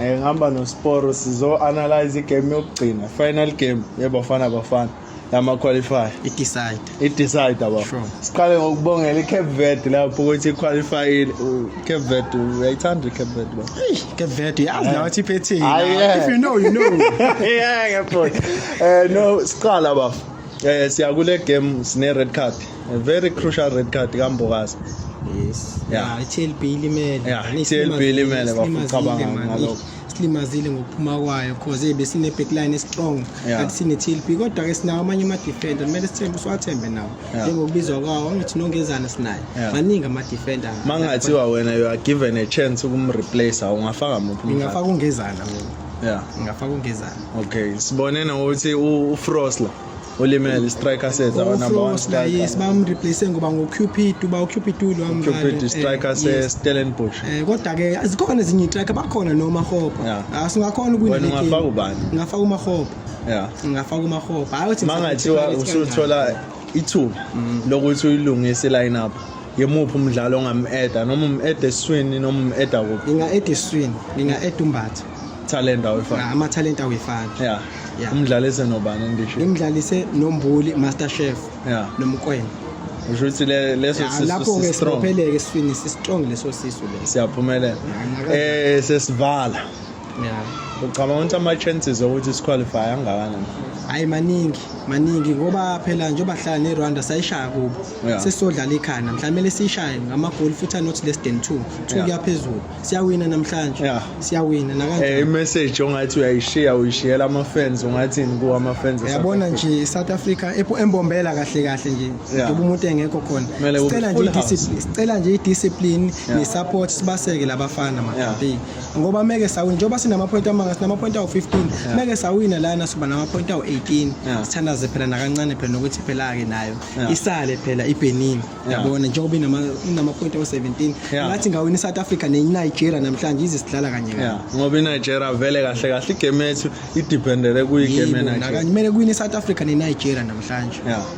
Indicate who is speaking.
Speaker 1: Eh, ngihamba nosporo
Speaker 2: sizo-analyze igame yokugcina final game yebafana bafana yama-qualify idecide idecide
Speaker 1: aba sure.
Speaker 2: siqale ngokubongela i-cape verde lapho ukuthi iqualifyile cape verde uyayithanda i-cape verde ba cape verde yazi
Speaker 1: nawe ukuthi iphethini ah, if you know
Speaker 2: you
Speaker 1: know yeah ngiyabona
Speaker 2: um eh, no siqala bafo Eh siya kule game sine red card. A very crucial red card kaMbokazi. Yes.
Speaker 1: Yeah, iTLB
Speaker 2: ilimele.
Speaker 1: Yeah, iTLB
Speaker 2: ilimele bafacabanga ngalokho. silimazile ngokuphuma
Speaker 1: kwayo cause ebe sine backline strong kanti sine TLB
Speaker 2: kodwa
Speaker 1: ke sinawo amanye ama defender kumele sithembe siwathembe nawo njengokubizwa kwawo
Speaker 2: angithi
Speaker 1: nongezana sinaye maningi ama
Speaker 2: defender
Speaker 1: mangathiwa wena
Speaker 2: you are given a chance ukumreplace ungafaka muphi ngingafaka ungezana
Speaker 1: Yeah. Ngafaka ungezana. Okay, sibone
Speaker 2: nokuthi uFrost la olimele striker set our number 1 striker. Yes, bamreplace
Speaker 1: ngoba ngo Cupid uba u Cupid lo amva. Cupid eh, striker
Speaker 2: se Stellenbosch. Eh kodwa ke
Speaker 1: azikhona ezinye striker bakhona noma Hopa. Asingakhona ah, ukuwina
Speaker 2: le game.
Speaker 1: Ngafaka ubani?
Speaker 2: Ngafaka uMahopa.
Speaker 1: Yeah. Ngafaka
Speaker 2: uMahopa.
Speaker 1: Hayi uthi mangathiwa usuthola
Speaker 2: ithuba mm. lokuthi uyilungise line up yemuphi umdlalo ongamu-eda noma umu-eda esiswini noma umu-eda kuphi nginga-eda esiswini
Speaker 1: nginga-eda umbatha talent awefani
Speaker 2: ah, amathalente awefani
Speaker 1: ya yeah.
Speaker 2: umdlalise
Speaker 1: nobani
Speaker 2: endisho ngimdlalise nombuli
Speaker 1: master chef yeah. nomkwena usho ukuthi
Speaker 2: leso lapho-ke
Speaker 1: sibopheleke esifini
Speaker 2: sistrong
Speaker 1: leso sisu le siyaphumelela
Speaker 2: um sesibala
Speaker 1: yeah ucabanga ukuthi ama-chances
Speaker 2: okuthi siqualify angakanani hayi maningi
Speaker 1: maningi ngoba phela njengoba hlala nerwanda sayishaya kubo yeah. sesizodlala
Speaker 2: ikhaya namhlanje
Speaker 1: kumele siyishaye ngamagoli futhi anothi less than two two yeah. kuyaphezulu
Speaker 2: siyawina
Speaker 1: namhlanje yeah. siyawina
Speaker 2: nakanjani hey, eh,
Speaker 1: imessage ongathi
Speaker 2: uyayishiya uyishiyela ama-fans ungathini kuwo ama-fans yabona nje south
Speaker 1: africa embombela kahle kahle nje yeah. umuntu engekho
Speaker 2: khona
Speaker 1: sicela nje
Speaker 2: sicela nje
Speaker 1: i-discipline yeah. ne-support
Speaker 2: sibaseke
Speaker 1: labafana makampeni yeah.
Speaker 2: ngoba
Speaker 1: meke sawina njengoba sinamaphoyinti amanga sinamaphoyinti awu-15 meke sawina lana siba namaphoyinti awu-18 sithandaze phela
Speaker 2: nakancane
Speaker 1: phela nokuthi phela-ke nayo isale phela
Speaker 2: ibenin
Speaker 1: yabona njengoba inamaphoyinti awu-17 ngathi ngawina i-south
Speaker 2: africa
Speaker 1: nenigeria namhlanje ize sidlala kanye ngoba inigeria
Speaker 2: vele kahle kahle igame yethu idiphendele kuyigame nakanjemele kuyini
Speaker 1: i-south
Speaker 2: africa
Speaker 1: nenigeria namhlanje